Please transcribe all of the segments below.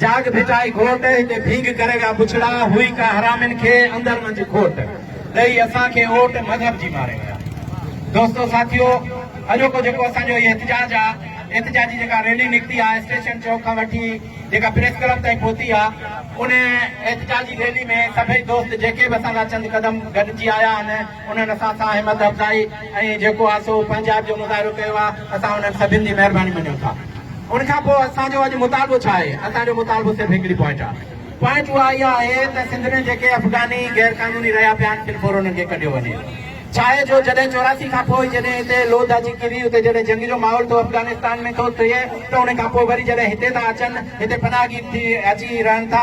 جاڳ ڀٽائي گهوٽ، هتي ڀينگ ڪري ويا بڇڙا، هئي ڪا حرامين کي اندر منجهه کوٽ، ڏئي اسان کي اوٽ مذهب جي ماري ويا. دوستو ساٿيو اڄوڪو جيڪو اسان جو هي احتجاج آ، احتجاجي جيڪا ريلي نڪتي آ اسٽيشن چوڪ کان وٺي جيڪا پريس ڪلب تائين پهتي آ، ان احتجاجي ريلي ۾ سڀئي دوست جيڪي به اسان سان چند قدم گڏجي آيا آهن، انهن اسان سان همت افزائي ۽ جيڪو آهي سو پنهنجائپ جو مظاهرو ڪيو آهي، اسان انهن سڀن جي مهرباني مڃون ٿا. ان کان پوء اسان جو اڄ مطالبو ڇا آهي؟ اسان جو مطالبو صرف هڪڙي پوائنٽ آهي. پوائنٽ اها اها آهي ته سنڌ ۾ جيڪي افغاني غير قانوني رهيا پيا آهن، فل فور انهن کي ڪڍيو وڃي. ڇا آهي جو جڏهن چوراسي کان پوء جڏهن هتي لوڌ اچي ڪري، هتي جڏهن جنگ جو ماحول ٿو افغانستان ۾ ٿو ٿئي ته ان کان پوء وري جڏهن هتي ٿا اچن، هتي پناهگير ٿي اچي رهن ٿا،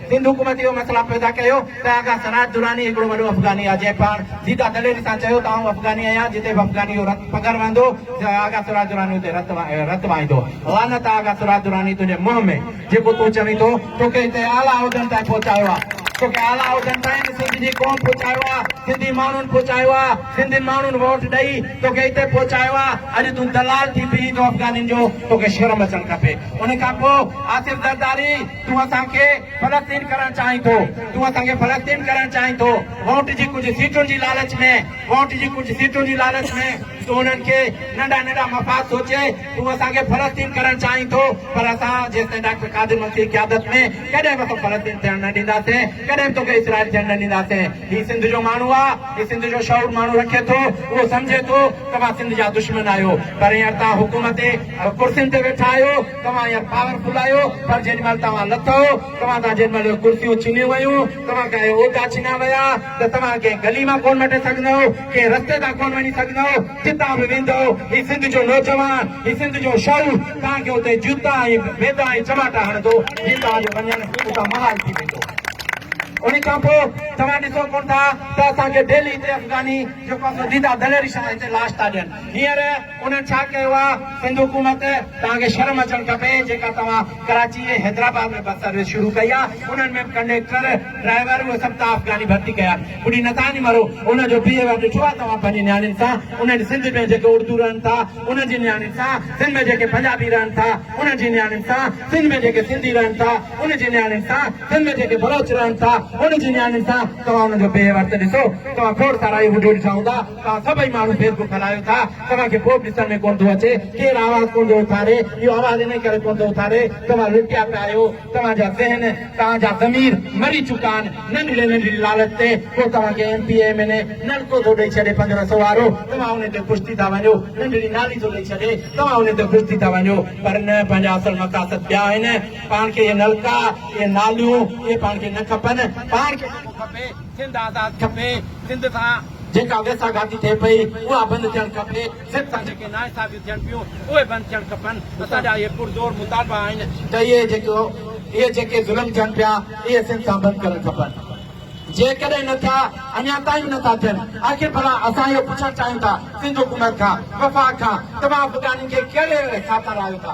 سنڌ حڪومت اهو مسئلا پيدا ڪيو ته آغا سراج دراني هڪڙو وڏو افغاني آهي جنهن پاڻ سيدا دليري سان چيو ته آئون افغاني آهيان جتي به افغاني جو رت پگهر وهندو آغا سراج دراني اتي رت رت وهائيندو لعنت آ آغا سراج دراني تنهنجي منهن ۾ جيڪو تون چوين ٿو توکي هتي اعليٰ عهدن تائين پهچايو آ توکي اعليٰ عهدن تائين سنڌ جي قوم پهچايو آ سنڌي ماڻهن پهچايو آ سنڌين ماڻهن ووٽ ڏئي توکي هتي پهچايو آ اڄ تون دلال ٿي بيهين ٿو افغانين جو توکي شرم اچڻ کپي ان کان پوء آصف زرداري تون اسان کي فلسطين ڪرڻ چاهين ٿو، تون اسان کي فلسطين ڪرڻ چاهين ٿو، ووٽ جي ڪجهه سيٽن جي لالچ ۾، ووٽ جي ڪجهه سيٽن جي لالچ ۾، تون انهن کي ننڍا ننڍا مفاد سوچي تون اسان کي فلسطين ڪرڻ چاهين ٿو، پر اسان جيستائين ڊاڪٽر قادر منصور جي قيادت ۾ ڪڏهن به تو فلسطين ٿيڻ نه ڏينداسين، ڪڏهن به توکي اسرائيل ٿيڻ نه ڏينداسين، هي سنڌ جو ماڻهو آ، هي سنڌ جو شعور ماڻهو رکي ٿو، اهو سمجهي ٿو ته اوهان سنڌ جا دشمن آهيو، پر هينئر توهان حڪومتي ڪرسين تي ويٺا آهيو، توهان يا پاور فل آهيو پر جيڏي مهل توهان لٿئو توهان تان جيڏي مهل ڪرسيون ڇنيون ويون توهان کان اهي عهدا ڇنيا ويا ته توهان ڪنهن گلي مان ڪونه مٽي سگهندئو ڪنهن رستي تان ڪونه وڃي سگهندئو جتان به ويندئو هي سنڌ جو نوجوان هي سنڌ جو شعور توهان کي اتي جوتا ۽ بيدا ۽ چماٽا هڻندو جي توهان جو وڃڻ اتان محال ٿي ويندو ان کان پوء توهان ڏسو ڪونه ٿا ته اسان کي ڊيلي هتي افغاني جيڪو اسان ديدا دليري شاهه هتي لاش ٿا ڏين هينئر انهن ڇا ڪيو آ سنڌ حڪومت توهان کي شرم اچڻ کپي جيڪا توهان ڪراچي ۽ حيدرآباد ۾ بس سروس شروع ڪئي آ انهن ۾ به ڪنڊيڪٽر ڊرائيور اهي سڀ تان افغاني ڀرتي ڪيا آهن ٻڏي نٿا ني مرو انهن جو بيهيويئر ڏٺو آ توهان پنهنجي نياڻين سان انهن سنڌ ۾ جيڪي اڙدو رهن ٿا انهن جي نياڻين سان سنڌ ۾ جيڪي پنجابي رهن ٿا انهن جي نياڻين سان سنڌ ۾ جيڪي سنڌي رهن ٿا انهن جي نياڻين سان سنڌ ۾ جيڪي بلوچ رهن ٿا انهن جي نياڻين سان توهان انهن جو بيهيويئر ته ڏسو توهان کوڙ سارا اهي وڊيو ڏٺا هوندا. توهان سڀئي ماڻهو فيس بڪ هلايو ٿا، توهان کي پوء به ڏسڻ ۾ ڪونه ٿو اچي، ڪير آواز ڪونه ٿو اٿاري، اهو آواز انهي ڪري ڪونه ٿو اٿاري، توهان لٽيا پيا آهيو، توهان جا ذهن، توهان جا ضمير مري چڪا آهن، ننڍڙي ننڍڙي لالچ تي ڪو توهان کي M P A, M N A نلڪو ٿو ڏئي ڇڏي پنج رسو وارو، توهان انهي تي خوش ٿي ٿا وڃو، ننڍڙي نالي ٿو ڏئي ڇڏي، توهان انهي تي خوش ٿي ٿا وڃو، پر نه پنهنجا اصل مقاصد ٻيا آهن، پاڻ کي اهي نلڪا، اهي ناليون، اهي پاڻ کي نه کپن، پاڻ کي جيڪو کپي، سنڌ آزاد کپي، سنڌ سان. جيڪا ويساهه گهاتي ٿئي پئي، اها بند ٿيڻ کپي. ضد سان جيڪي ناانصافيون ٿين پيون، اهي بند ٿيڻ کپن. اسان جا اهي پرزور مطالبا آهن ته اهي جيڪو اهي جيڪي ظلم ٿين پيا، اهي سنڌ سان بند ڪرڻ کپن. جيڪڏهن نه ٿيا، اڃا تائين به نه ٿا ٿين، آخر ڀلا اسان اهو پڇڻ چاهيون ٿا سنڌ حڪومت کان، وفاق کان، توهان افغانين کي ڪهڙي اهڙي خاطر آهيو ٿا،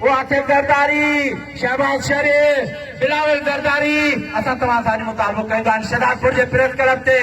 او آصف زرداري، شهباز شريف، بلاول زرداري اسان توهان سان اڄ مطالبو ڪيون ٿا ان شهدادپور جي پريس ڪلب تي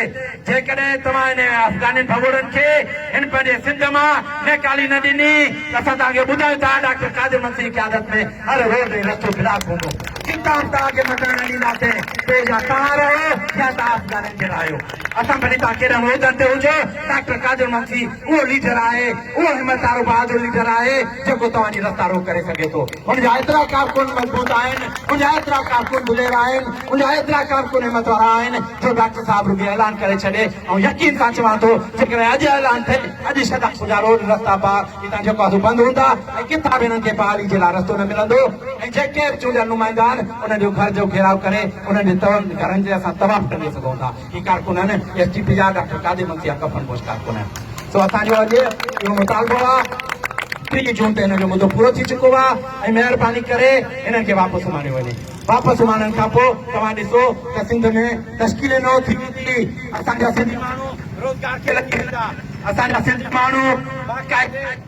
جيڪڏهن توهان انهن افغانين ڀڳوڙن کي هن پنهنجي سنڌ مان نيڪالي نه ڏني ته اسان توهان کي ٻڌايون ٿا ڊاڪٽر قادر منسي جي قيادت ۾ هر روڊ ۽ رستو بلاڪ هوندو ڪتاب توهان کي مٽڻ نه ڏينداسين پوء جا توهان رهو يا توهان افغانن کي رهايو اسان ڀلي توهان ڪهڙن عهدن تي هجو ڊاڪٽر قادر منسي اهو ليڊر آهي، اهو همت وارو بهادر ليڊر آهي جيڪو توهان جي رستا روڪ ڪري سگهي ٿو. ان جا ايترا ڪارڪن مضبوط آهن، ان جا ايترا ڪارڪن دلير آهن، ان جا ايترا ڪارڪن همت وارا آهن جو ڊاڪٽر صاحب رڳي اعلان ڪري ڇڏي. آئون يقين سان چوان ٿو جيڪڏهن اڄ اعلان ٿئي، اڄ شھدادپور جا روڊ، رستا پار هتان جيڪو آهي سو بند هوندا ۽ ڪٿان به هنن کي بحالي جي لاء رستو نه ملندو ۽ جيڪي به چونڊيل نمائندا آهن انهن جو گهر جو گهيراء ڪري انهن جي تڙن گهرن تي اسان طواف ٽنگي سگهون ٿا. جي ڪارڪنن ايس ڊي پي جا ڊاڪٽر قادر منسي جا ڪفن پوش ڪارڪن سو اسان جو اڄ اهو مطالبو آ ٽيهه جون تي هن جو مدو پورو ٿي چڪو آ ۽ مهرباني ڪري هنن کي واپس اماڻيو وڃي واپس اماڻڻ کان پو توهان ڏسو ته سنڌ ۾ تشڪيلي نو ٿي ويندي اسان جا سنڌي ماڻهو روزگار کي لڳي ويندا اسان جا سنڌي ماڻهو باقاعدي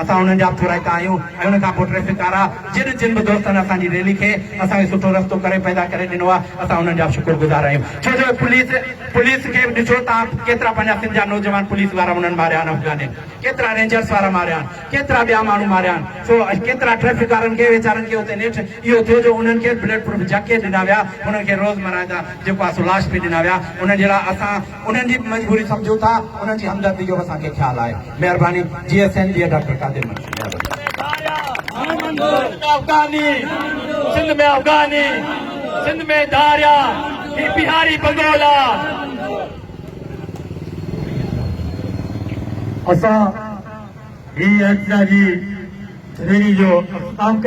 اسان انهن جا پورائتا آهيون ۽ ان کان پوء ٽريفڪ وارا جن جن به دوستن اسان جي ريلي کي اسان کي سٺو رستو ڪري پيدا ڪري ڏنو آهي اسان انهن جا شڪر گذار آهيون ڇو جو پوليس پوليس کي به ڏسو توهان ڪيترا پنهنجا سنڌ جا نوجوان پوليس وارا انهن ماريا آهن افغانين ڪيترا رينجرس وارا ماريا آهن ڪيترا ٻيا ماڻهو ماريا آهن سو ڪيترا ٽريفڪ وارن کي ويچارن کي اتي نيٺ اهو ٿيو جو انهن کي بلٽ پروف جئڪيٽ ڏنا ويا انهن کي روزمره جا جيڪو آهي سو لاش پي ڏنا ويا انهن جي لاء اسان انهن جي به مجبوري سمجهون ٿا انهن جي همدردي جو به اسان کي خيال آهي مهرباني جي ايس اين جي ڊاڪٽر قادر منشي افغاني سنڌ ۾ افغاني سنڌ ۾ ڌاريا هي بهاري بگولا اسان هي ايڪسا جي ريلي جو اختتام ڪيو